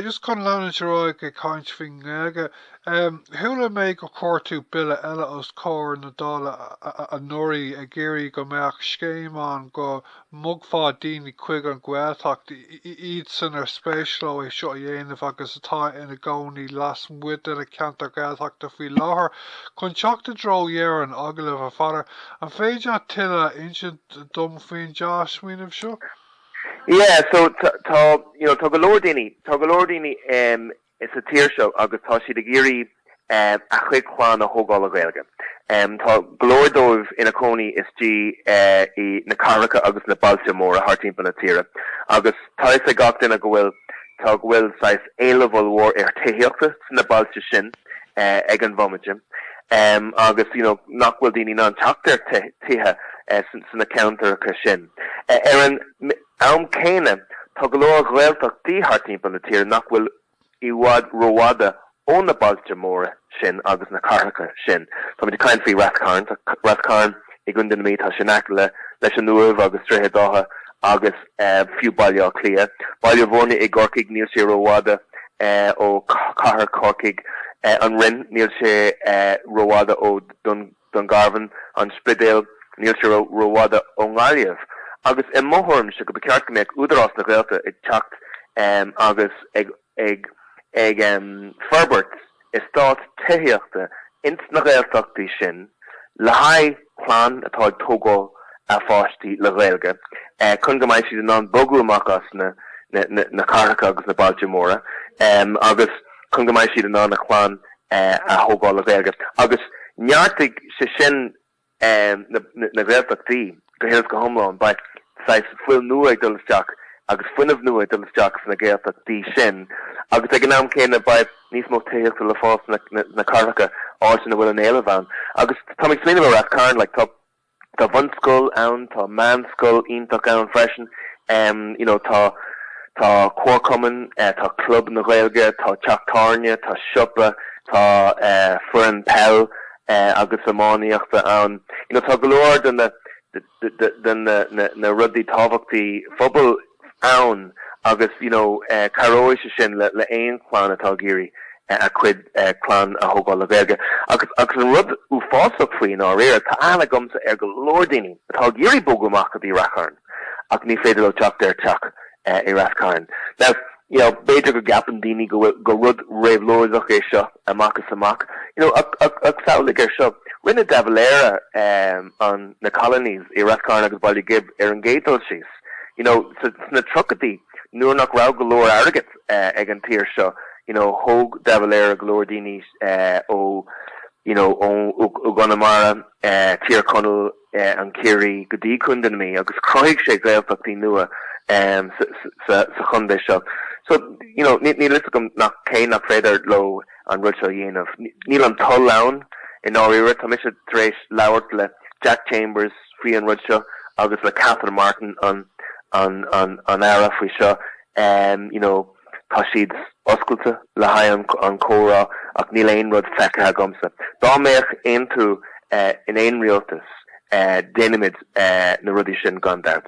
Just chun leanúint ar aghaidh ag caint faoin nGaeilge, em, chuala mé gur chuir tú bille eile os comhair na Dála anuraidh ag iarraidh go mbeadh scéim ann go mbogfá daoine chuig an nGaeltacht, iad san ar spéis leo é seo a dhéanamh agus atá ina gcónaí lasmuigh de na ceantair Ghaeltachta faoi láthair, chun teacht i dtreo dheireadh an agallaimh, a Pheadair. An féidir leat tuilleadh a insint dom faoin dea-smaoineamh seo? Yeah, so tá, tá, you know, tá go leor daoine, tá go leor daoine em, sa tír seo agus tá siad ag iarraidh em, a chuid clann a thógáil le Gaeilge. Em, tá go leor dóibh ina cónaí istigh eh, i na cathracha agus na bailte móra thart timpeall na tíre. Agus tá fhios ag gach duine go bhfuil, tá, go bhfuil saghas éileamh ollmhór ar thithíochta sna bailte sin eh, ag an bhomaite. Em, agus, you know, nach bhfuil daoine in ann teacht ar ti- tithe eh, san- sna ceantaracha sin. Ar an am céanna tá go leor Gaeltachtaí thart timpeall na tíre nach bhfuil i bhfad rófhada ó na bailte móra sin agus na cathracha sin. Táimid ag caint faoi Rath Cairn. Tá Rath Cairn i gContae na Mí, tá sé in aice leis an Uaimh agus Droichead Átha agus fiú Baile Átha Cliath. Baile Bhúirne i gCorcaigh, níl sé rófhada ó chathair Chorcaigh. An Rinn, níl sé rófhada ó Dún. Dungarvan, An Spidéal, níl sé rófhada ón nGaillimh. Agus i mo thuairimse go mba cheart go mbeadh Údarás na Gaeltachta ag teacht agus ag forbairt estáit tithíochta ins na Gaeltachtaí sin le haghaidh clann atá ag tógáil a pháistí le Gaeilge chun go mbeidh siad in ann bogadh amach as na cathracha agus na bailte móra agus chun go mbeidh siad in ann a chlann a thógáil le Gaeilge agus neartóidh sé sin na Gaeltachtaí go huile is go hiomlán. Beidh saghas fuil nua ag dul isteach agus fuinneamh nua ag dul isteach sna Gaeltachtaí sin agus ag an am céanna beidh níos mó tithíochta le fáil sna cathracha, áit ina bhfuil an éileamh ann agus táim ag smaoineamh ar Rath Cairn, tá. Tá bunscoil ann, tá meánscoil iontach ann freisin, you know tá tá comharchumann, tá club na Gaeilge, tá teach tábhairne, tá siopa, tá foireann peile agus iománaíochta ann, you know tá go leor de na de na rudaí tábhachtacha phobail. ann agus you know cabhróidh sé sin le le aon chlann atá ag iarraidh a cuid clann a thógáil le Gaeilge agus agus an rud uafásach faoi i ndáiríre tá aithne agamsa ar go leor daoine atá ag iarraidh bogadh amach go dtí Rath Cairn ach ní féidir leo teacht ar teach i Rath Cairn now you know b'fhéidir go gceapann daoine go bhfuil go rud réabhlóideach é seo amach is amach you know ach ach ach samhlaigh air seo rinne De Valera um, an na colonies i Rath Cairn agus Baile Ghib ar an gcéad dul síos. You know, sna tríochaidí, nuair nach raibh go leor airgid ag an tír seo, you know, thóg de Valera go leor daoine ó, you know, ó gConamara, Tír Chonaill, an Ciarraí, go dtí Contae na Mí agus chruthaigh sé Gaeltachtaí nua sa chontae seo. So, you know, níl a fhios agam nach cén nach féidir leo an rud seo a dhéanamh. Níl an toil ann, i ndáiríre. Tá mise tar éis labhairt le Jack Chambers, faoi an rud seo agus le Catherine Martin an an an an Aire faoi seo um you know tá siad oscailte le haghaidh an an comhrá ach níl aon rud feicthe agamsa dá mbeadh aontú uh, in aon rialtas uh, déanfaimid uh, na rudaí sin gan dabht.